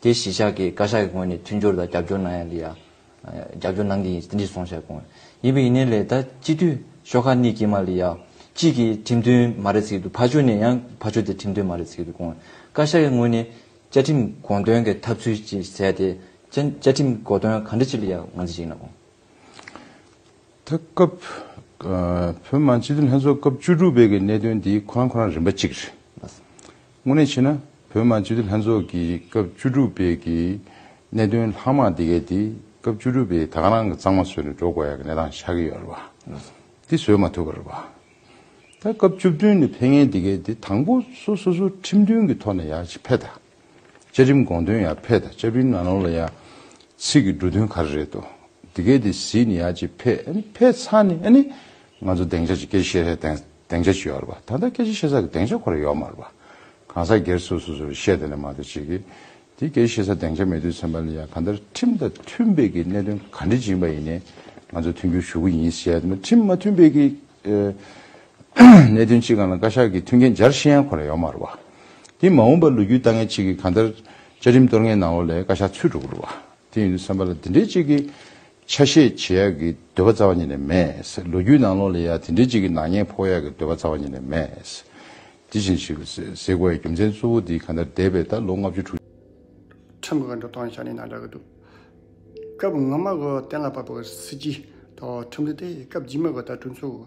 དེ་གཞིས་ཆགས་ཀྱི་བཀའ་ཤག་གི་ངོས་ནས་མཐུན་སྦྱོར་དང་རྒྱབ་སྐྱོར་གནང་ཡ་འདི་ཡ། རྒྱབ་སྐྱོར་གནང་གི་ཡིན་ཏེ་འདི་སོང་ཤག་གོང། ཡིན་པའི་ཡིན་ནའི་ལས་ད་སྤྱི་འཐུས་ཤོག་ཁག་གནས་ཀྱི་མ་ལི་ཡ། གཅིག་གི་ཁྲིམས་མཐུན་མ་རེད་ཟེར་གྱི་འདུག་ཕ་ཆོས་ནས་ཡང་ཕ་ཆོས་དེ་ཁྲིམས་མཐུན་མ་རེད་ཟེར་གྱི་འདུག་གོང། བཀའ་ཤག་གི་ངོས་ནས་བཅའ་ཁྲིམས་དགོངས་དོན་གྱི་ཐབས་ཚུལ་ཅིག་བཟས་ཏེ། བཅའ་ཁྲིམས་དགོ་དོན་ག་འདྲ་ཅིག་ལི་ཡ་ང་ཚོས་ཡིན་ན་གོང། ད་སྐབས་བོད་མང་སྤྱི་འཐུས་ལྷན་ཚོགས་སྐབས་བཅུ་དྲུག་པའི་གི་གནད་དོན་འདི་ཁོ་རང་ཁོ་རང་རིམ་པ་གཅིག་རེད། དངོས་གནས་བྱས་ན་བོད་དམངས་སྤྱི་འཐུས་ལྷན་ཚོགས་ཀྱི་སྐབས་བཅུ་དྲུག་པའི་གི་གནད་དོན་ལྷག་མ་དེ་གའི་དེ་སྐབས་བཅུ་དྲུག་པའི་ད་ག་རང་གི་གཙང་མ་བཟོས་ནས་འགྲོ་དགོས་ཡག་གི་གནས་སྟངས་ཆགས་ཀྱི་ཡོད་རེད་པ། དེ་བཟོས་མ་ཐུབ་པ་རེད་པ། ད་སྐབས་བཅུ་བདུན་ནས་ཕན་ངེས་དེ་གའི་དེ་དང་པོ་སོ་སོ་སོ་ཁྲིམས་མཐུན་གྱི་ཐོག་ནས་ཡག་ཅིག་ཕེ་ད། བཅའ་ཁྲིམས་དགོངས་དོན་ཡག་ཕེ་ད་བཅའ་ཕིར་ན་ནོར་ལ་ཡག་ཚིག་གི་འབྲུ་དོན་ག་རེ་རེད་དོ་དེ་གའི་དེ་གཟིགས་ནས་ཡག་ཅིག་ཕེ་ཨ་ནི་ཕེ་ཚ་ནས་ཨ་ནི་ང་ཚོ་གདེང་ཆ་ཅིག་སྐྱེ་ཤེས་རེད་དེང་གདེང་ཆ་ཅི་ཡོད་རེད་པ། ད་ལྟ་སྐད་ཆ་བཤད་ས་གི་གདེང་ཆ་ཁོ་ར་ཡོད་མ་རེད་པ། གང་ཟག་སྒེར་སོ་སོ་སོར་བཤད་དེ་ལས་མ་གཏོགས་བྱེད་ཀྱི། དེ་སྐད་ཆ་བཤད་ས་གདེང་ཆ་མེད་དུས་ཚན་པ་ལ་ཡང་གང་ལྟར་ཁྲིམས་དང་མཐུན་པའི་གི་གནད་དོན་ག་འདྲི་བྱིན་པ་ཡིན་ནའི་ང་ཚོ་མཐུན་འགྱུར་ཞུ་གི་ཡིན་ཟེར་ཡ་དེ་མ་ཁྲིམས་མ་མཐུན་པའི་གི། གནད་དོན་གཅིག་གང་ལ་བཀའ་ཤག་གི་མཐུན་རྐྱེན་སྦྱར་ཤེས་ཡང་ཁོ་ར་ཡོད་མ་རེད་པ། དེ་མ་འོངས་པ་ལོ་རྒྱུས་ལྟ་ངན་གཅིག་གི་གང་ལྟར་བཅའ་ཁྲིམས་གཏོར་ངན་ནང་ལོག་ལས་བཀའ་ཤག་ཚུད་འགྲོ་གི་རེད་པ། དེ་ཡིན་དུས་ཚན་པ་ལ་དེ་འདྲའི་གཅིག་གི་ཆ་ཤས་བྱེད་ཡག་གི་འདོད་པ་རྩ་བ་ཉིད་ནས་མེད། ལོ་རྒྱུས་ནང་ལོགས་ལས་ཡག་དེ་འདྲའི་ཅིག་གི་ནག་ཉེས་ཕོག་ཡག་གི་འདོད་པ་རྩ་བ་ཉིད་ནས་མེད། དེ་བཞིན་ཞིག་གཟིགས་བས་རྒྱུ་མཚན་གཙོ་བོ་འདི་ག་འདྲ་འདས་པའི་ད་ལོ་ལྔ་བཅུ་དྲུག། ཁྲིམས་གང་འདྲ་གཏང་ཤ་ནི་ནང་འདྲ་གི་འདུག་སྐབས་སྔ་མ་གོ་གཏན་ལ་ཕབ་པའི་སྲིད་སྤྱི་དང་ཁྲིམས་སྒྲིག་དེ་སྐབས་རྗེས་མ་གོ་ད་གྲོས་ཚོགས།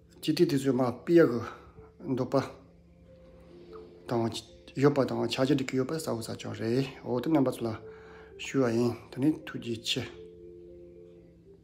སྤྱི་ཏི་དེ་ཚོའི་མ་དཔེ་ཡག་གི་འདུག་པ་དང། ཡོད་པ་དང་ཆ་རྒྱ་འགྲིག་གི་ཡོད་པ་གསལ་བོ་ཟ་ཆོག་རེད་འོ་དེ་རྣམ་པ་ཚོ་ལ་ཞུ་བ་ཡིན་དེ་ནི་ཐུགས་རྗེ་ཆེ།